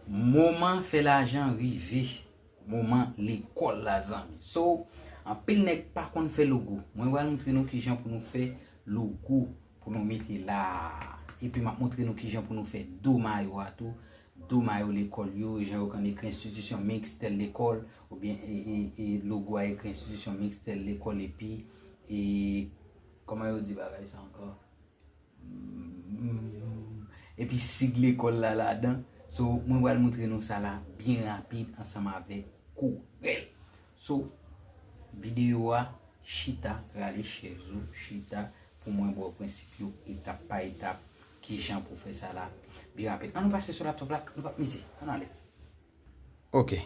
Moman fè lajan rive moman lekòl la zanmi So anpil nèg pa konn fè logo Mwen pral moutre nou kijan pou nou fè logo pou nou mete la Epi m ap moutre nou kijan pou nou fè do mayo a tou Do mayo lekòl yo jan yo konn ekri enstitisyon miks tèl lekòl oubyen e logo a ekri enstitisyon miks tèl lekòl epi e Kòman yo di bagay sa ankò? Epi sig lekòl la ladan. So, mwen pral moutre nou sa la byen rapid ansanm avèk Corel. So, videyo a, chita, rale chèz ou, chita pou mwen ba w prensip yo etap pa etap ki jan pou fè sa la byen rapid. An nou pase sou laptop la, nou pa p mize. An nou ale. Ok.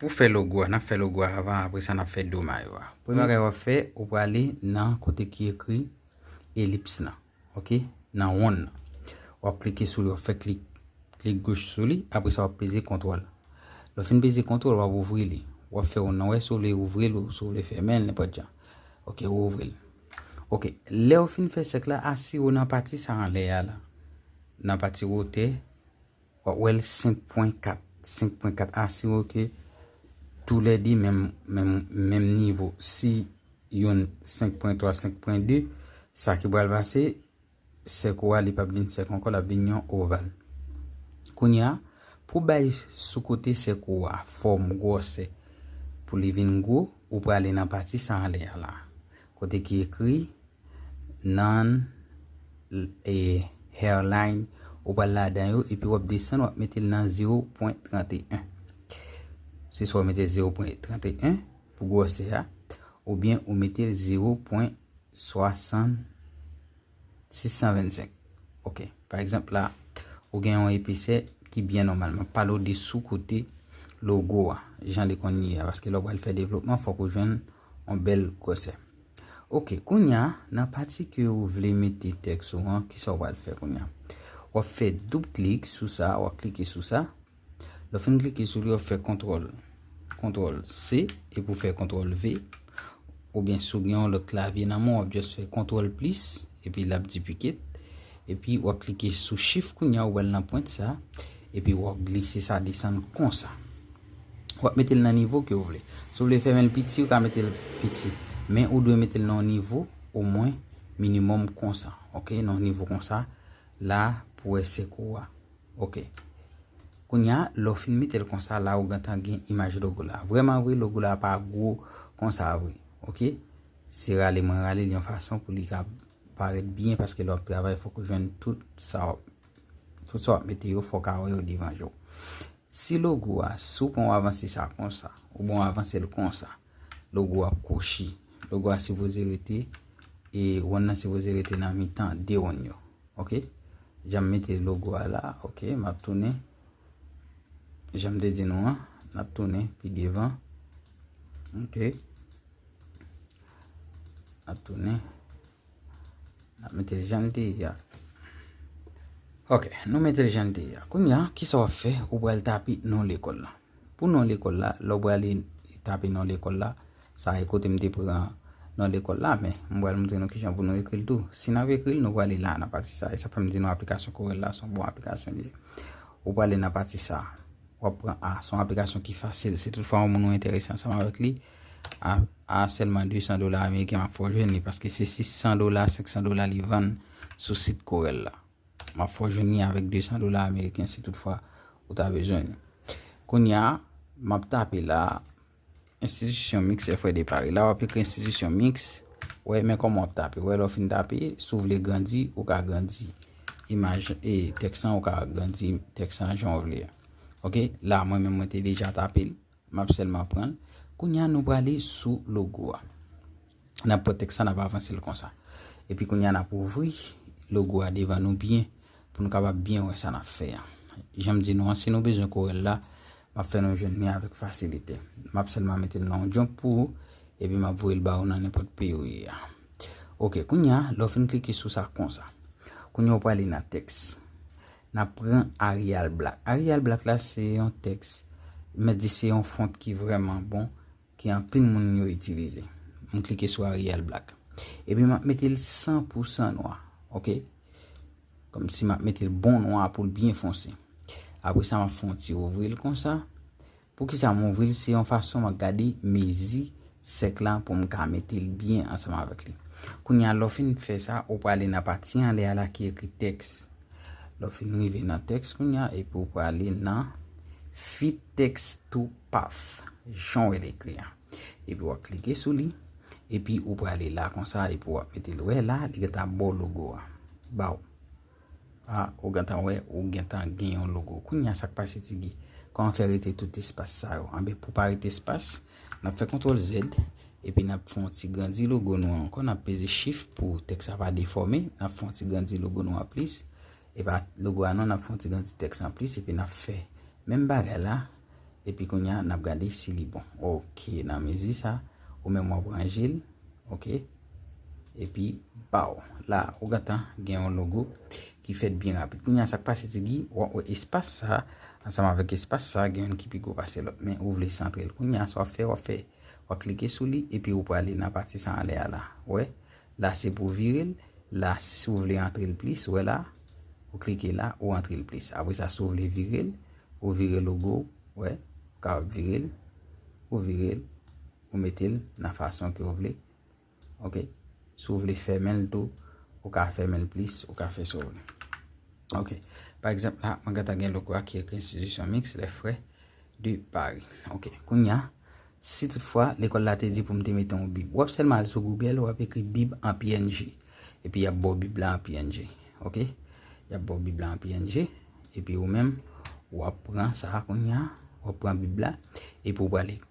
Pou fè logo a, n ap fè logo a avan apre sa n ap fè do mayo a. Premye bagay w ap fè, ou prale nan kote ki ekri elips lan, ok, nan wonn nan. W ap klike sou li, w ap fè klik, klik goch sou li, apre sa w ap peze kontwòl. Lè w fin peze kontwòl, w ap ouvri li. W ap fè yon non wè si w vle ouvri l ou si w vle fèmen l, nenpòt jan. Ok, ou ouvri l. Ok, lè w fin fè sèk la, asire w nan pati sa anlè a la, nan pati wotè. Wap wè l 5 pwen 4. 5 pwen 4 asire w ke tou lè 2 menm nivo. Si youn 5 pwen 3, 5 pwen 2, sa ki pral pase, sèk ou a li pap vin sèk ankò, lap vin yon oval. Kounye a, pou bay sou kote sèk ou a fòm gwòsè, pou li vin gwo, ou prale nan pati sa anlè a la. Kote ki ekri Nan e hairline ou pral ladan yo epi wap desann wap metel nan 0.31 se swa ou metel 0.31 pou gwòsè a oubyen ou metel 0.60 625 ok pa egzanp la ou gen yon episè ki byen nòmal map pale ou de sou kote logo a jan li konn ye a paske lè ou pral fè devlopman fòk ou jwenn Yon bèl gwòsè. Ok, kounye a, nan pati ke ou vle mete tèks ou an, kisa ou pral fè kounye a? W ap fè doub klik sou sa, w ap klike sou sa. Lè w fin klike sou li, w ap fè kontwòl, kontwòl C, epi ou fè kontwòl V. Oubyen si w gen yon lòt klavye nan men w, w ap just fè kontwòl plis, epi l ap dipikit. Epi w ap klike sou chif kounye a, ou wè l nan pwent sa, epi w ap glise sa desann konsa. w ap mete l nan nivo ke ou vle. Si w vle fèmen l piti, ou ka mete l piti. Men ou dwe mete l nan yon nivo omwen minimòm konsa. Ok, nan yon nivo konsa. La pou w wè sèk ou a. Ok. Kounya, lè w fin mete l konsa, la ou gentan gen imaj logo la. Vrèman vre, logo la pa gwo konsa vre. Ok. Se rale mwen rale l yon fason pou li ka parèt byen paske lè w ap travay fòk ou jwenn tout sa w ap mete yo fòk a wè yo devan je w. Si logo a, si w pran w avanse sa konsa, ou bon avanse l konsa, logo a ap kwochi. Logo a sipoze rete, e wonn nan sipoze rete nan mitan 2 wonn yo. Ok? Jan m mete logo a la, ok, m ap tounen. Jan m te di nou an, m ap tounen pi devan. Ok? M ap tounen. N ap mete l jan l te ye a. Ok, nou mete l jan l te ye a. Kounye a, ki sa w ap fè? Ou pral tape non lekòl la. Pou non lekòl la, lè w prale tape non lekòl la, sa e kote m te pran non lekòl la, men m pral montre nou ki jan pou nou ekri l tou. Si n ap ekri l, nou prale la a nan pati sa a. E sa fè m di nou aplikasyon Corel la se yon bon aplikasyon li ye. Ou prale nan pati sa a. W ap pran a. Se yon aplikasyon ki fasil. Si tout fwa yon moun ou enterese ansanm avèk li, a sèlman 200 dola ameriken map fè w jwenn li paske se 600 dola 500 dola li vann sou sit Corel la map fè w jwenn li avèk 200 dola ameriken si tout fwa ou ta bezwen li kounya map tape la institution mix e fwe de pari la wap ekri institution mix wè men kòman wap tape wè lè w fin tape si w vle grandi ou ka grandi imaj e tèks lan ou ka grandi tèks lan jan w vle ok la mwen menm mwen te deja tape l Map selman pranl. Kounya nou prale sou logo a. Nap pran teks sa nap avansel konsa. Epi kounya nap ouvri logo a devan nou byen pou nou kapab byen wè sa nap fè a. Janm di nou an si nou bezwen korèl la map fè nou jwenn li avèk fasilite. Map selman metel nan yon jump pou ou epi map voyel ba ou nan nenpot peyi ou ye a. Ok kounya lè ou fin klike sou sa konsa. Kounya ou prale nan teks. Nap pran Arial Black. Arial Black la se yon tèks mèt di se yon font ki vrèman bon ke anpil moun yo itilize. M klike sou Arial Black. Epi map mete l 100 pou 100 nwa. Ok. Kòm si map mete l bon nwa pou l byen fonse. Apre sa map fè yon ti ouvri l konsa. Poukisa m ouvri l? Se yon fason mwen gade mezi sèk la pou m ka mete l byen ansanm avèk li. Kounye a, lè w fin fè sa, ou prale nan pati anlè a la ki ekri tèks. Lè w fin rive nan tèks kounye a, epi ou prale nan Fit Text to Path, jan w wè l ekri a. Epi w ap klike sou li, epi ou prale la konsa, epi w ap mete l. Ou wè la, li gentan ap ba w logo a. Ba w. Ah ou gentan wè ou gentan gen yon logo kounya sak pase ti Guy kòman fè rete tout espas sa yo anben pou pa rete espas nap fè kontrol Z epi nap fè yon ti grandi logo nou an ankò nap peze chif pou tèks la pa defòme nap fè yon ti grandi logo nou an plis epa logo a non nap fè yon ti grandi tèks an plis epi nap fè menm bagay la epi kounya nap gade si li bon ok nan mezi sa ou menm wap ranje l ok. Epi baw. La ou gentan gen yon logo ki fèt byen rapid. Kounya sak pase ti Guy, wap wè espas sa ansanm avèk espas sa gen youn ki pi gwo pase lòt men ou vle santrel. Kounya sa wap fè wap fè wap klike sou li epi ou prale nan pati sa anlè a la. Ou wè? La se pou virel, la si ou vle antrel plis, ou wè la? Ou klike la, ou antrel plis. Apre sa si ou vle virel, ou vire logo ou, ou wè? Ou kapab virel, ou virel, Ou mete l nan fason ke ou vle. Ok. Si ou vle fèmen l tou, ou ka fèmen l plis, ou ka fè sa ou vle. Ok. Pa egzanp la, mwen gentan gen logo a ki ekri Institution Mixte Les Frères de Paris. Ok. Kounye a, si tout fwa lekòl la te di pou m te mete yon bib. W ap sèlman al sou Google, w ap ekri bib an png. Epi y ap ba w bib la an png. Ok. Y ap ba w bib la an png. Epi ou menm, w ap pran sa a kounye a. W ap pran bib la. Epi ou pral ekri.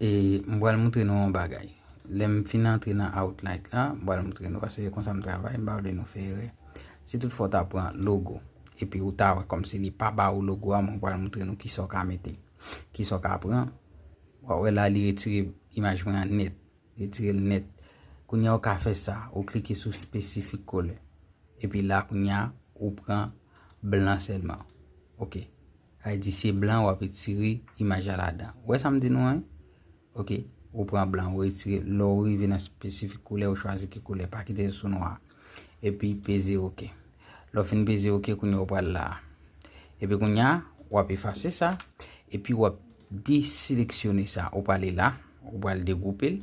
E m pral moutre nou yon bagay. Lè m fin antre nan Outlight la, m pral moutre nou paske se konsa m travay, m pa vle nou fè erè. Si tout fwa w ta pran logo, epi ou ta wè kòmsi li pa ba ou logo a, mwen pral moutre nou kisa w ka mete, kisa w ka pran. W a wè la li retire imaj mwen an nèt, li retire l nèt. Kounye a ou ka fè sa, ou klike sou Specific Color. Epi la kounye a, ou pran blan sèlman. Ok. Ayiti se blan wap retire imaj la ladan. Ou wè sa m di nou an wi? Ok, ou pran blan ou retire, lè ou rive nan spesifik koulè ou chwazi ki koulè, pa kite l sou nwa. Epi peze ok. Lè ou fin peze ok kounye ou pral la. Epi kounye a, wap efase sa, epi wap deseleksyone sa, ou prale la, ou pral degoupe l.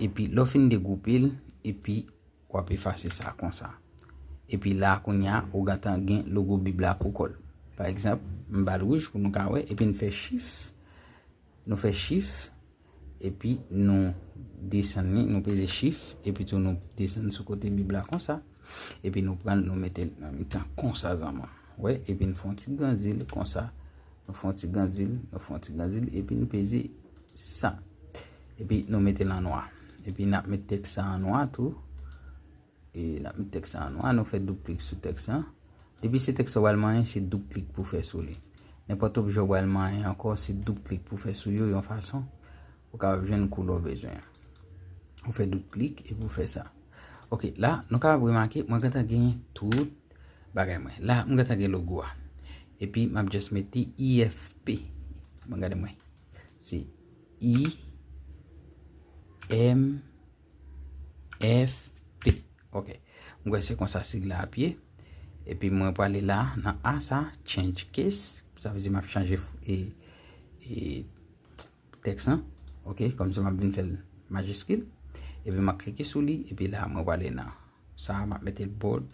Epi lè ou fin degoupe l, epi Wap efase sa konsa. Epi la kounya ou gentan gen logo bib la pou kòl. Pa egzanp, m bal wouj pou nou ka wè epi n fè chif. Nou fè chif epi nou desann li, nou peze chif epi tou nou desann sou kote bib la konsa. Epi nou pran nou mete l nan mitan konsa zanman. Ou wè, epi n fon ti grandi l konsa. Nou fon ti grandi l, nou fon ti grandi l epi n peze. Sa. Epi nou mete l an nwa. Epi n ap met tèks sa an nwa tou. E n ap met tèks sa an nwa. Nou fè doub klik sou tèks lan. Depi se tèks ou pral manyen, se doub klik pou fè sou li. Nenpòt objè ou pral manyen ankò, se doub klik pou fè sou yo yon fason pou kapab jwenn koulè w bezwen an. Ou fè doub klik epi ou fè sa. Ok, la nou kapab remake mwen gentan gen tout bagay mwen. La mwen gentan gen logo a. Epi m ap just mete IFP. Bon gade mwen. Se I, M, F, P. Ok. Mwen kwen se konsa sig la ap ye. E pi mwen pou ale la nan A sa, change case. Sa vezi map chanje e, e, teks an. Ok, kom se map vin fel majiskil. E pi map klike sou li, e pi la mwen pou ale nan. Sa map mete l bold,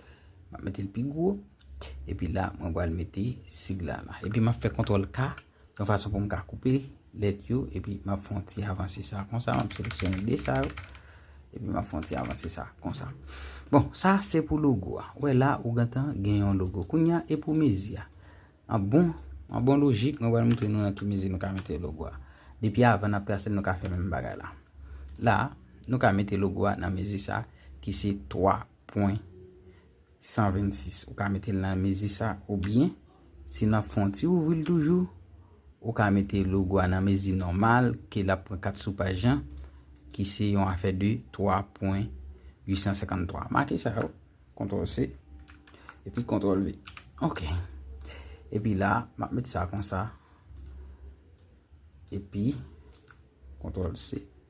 map mete l pi gwo. E pi la mwen pou ale mete sig la la. E pi map fe kontrol K. Yon fason pou m ka koupe lèt yo epi m ap fè yon ti avanse sa konsa. M ap seleksyone 2 sa yo epi m ap fè yon ti avanse sa konsa. Bon, sa se pou logo a. Ou wè la, ou gentan gen yon logo. Kounye a, e pou mezi a. An bon, an bon lojik, mwen pral montre nou nan ki mezi nou ka mete logo a. Depi avan n ap trase l, nou ka fè menm bagay la. La, nou ka mete logo a nan mezi sa ki se 3 pwen 126, ou ka mete l nan mezi sa oubyen si nan fon ti ouvri l toujou ou ka mete logo a nan mezi nòmal ke l ap pran 4 sou paj lan ki se yon afè de 3 pwen 853. Make sa yo, kontrol se, epi kontrol ve. Ok. Epi la, m ap mete sa konsa. Epi, kontrol se.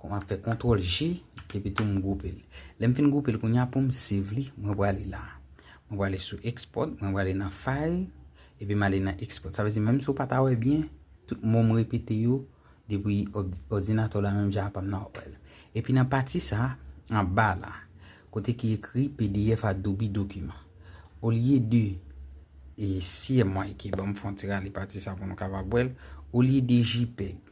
Kon map fè kontrol G epi tou m goupe l. Lèm fin goupe l kounya poum save li mwen prale la. Mwen prale sou export mwen prale nan file epi male nan export. Sa vle di menm si w pata wè byen tout mo m repete yo depi odinato la menm jan apam nan wèl. Epi nan pati sa anba la kote ki ekri pdf adobe document olye de e si MYK banm fon ti rale pati sa pou nou kapab wèl olye de jpeg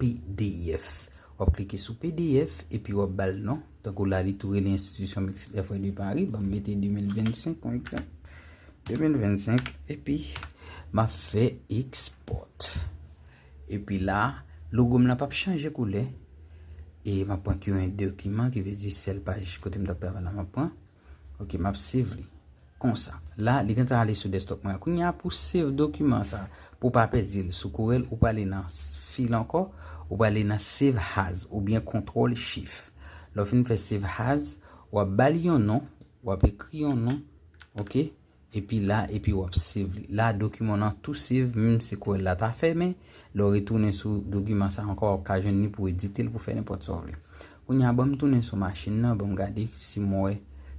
pdf. Wap klike sou pdf epi wap bal non, tankou la li tou rele Institution Mixte des Frères de Paris, banm mete 2025 kon egzanp. 2025 epi map fè export. Epi la, logo m lan pap chanje koulè. E map pran current document ki vle di sèl paj kote m tap travay la map pran. Ok map save li konsa la li gentan ale sou desktop mwen kounya pou save dokiman sa pou pa pèdi l sou corel ou prale nan fil ankò ou prale nan save as oubyen kontrol chif lè w fin fè save as wap bal yon non wap ekri yon non ok. Epi la epi wap save li. La dokiman nan tou save menm si kouwèl la ta fèmen, lè w retounen sou dokiman sa ankò wap ka jwenn li pou edite l pou fè nenpòt sa w vle. Kounye a banm tounen sou machin nan banm gade si m wè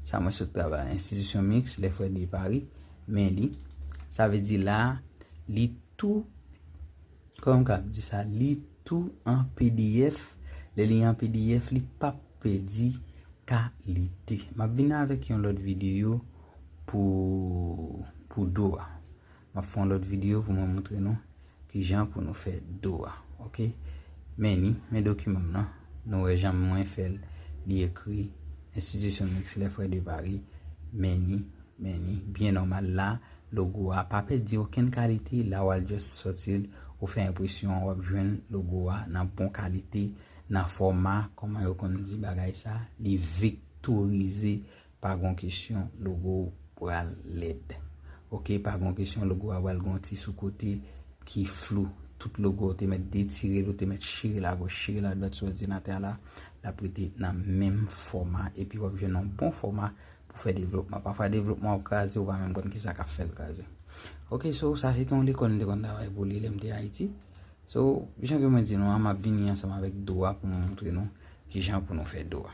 sa mwen sot travay la. Institution Mixte Les Frères de Paris men li. Sa vle di la li tou. Kòman m kab di sa li tou an pdf lè li an pdf li pap pèdi kalite map vin avèk yon lòt videyo pou pou do a map fè yon lòt videyo pou mwen moutre nou kijan pou nou fè do a ok men ni men dokiman m nan nou wè jan mwen fèl li ekri enstitisyon mixlè frè de Paris men ni men ni byen nòmal la Logo a pa pèdi okenn kalite la wal just sòtil ou fè enpresyon an wap jwenn logo a nan bon kalite nan fòma kòman yo konn di bagay sa li viktorize pa gon kesyon logo pral lèd ok pa gon kesyon logo a pral gon ti sou kote ki flou tout logo ou te mèt detirel ou te mèt chirel agoch chirel adwat sou òdinatè a la lap rete nan menm fòma epi wap jwenn yon bon fòma pou fè devlopman. Pafwa devlopman ap kraze, ou pa menm konn kisa kap fèl kraze. Ok, so sa se te yon lekòl m te konn travay pou li lè m te Ayiti. So, jan ke mwen di nou an, m ap vini ansanm avèk do a pou mwen montre nou kijan pou nou fè do a.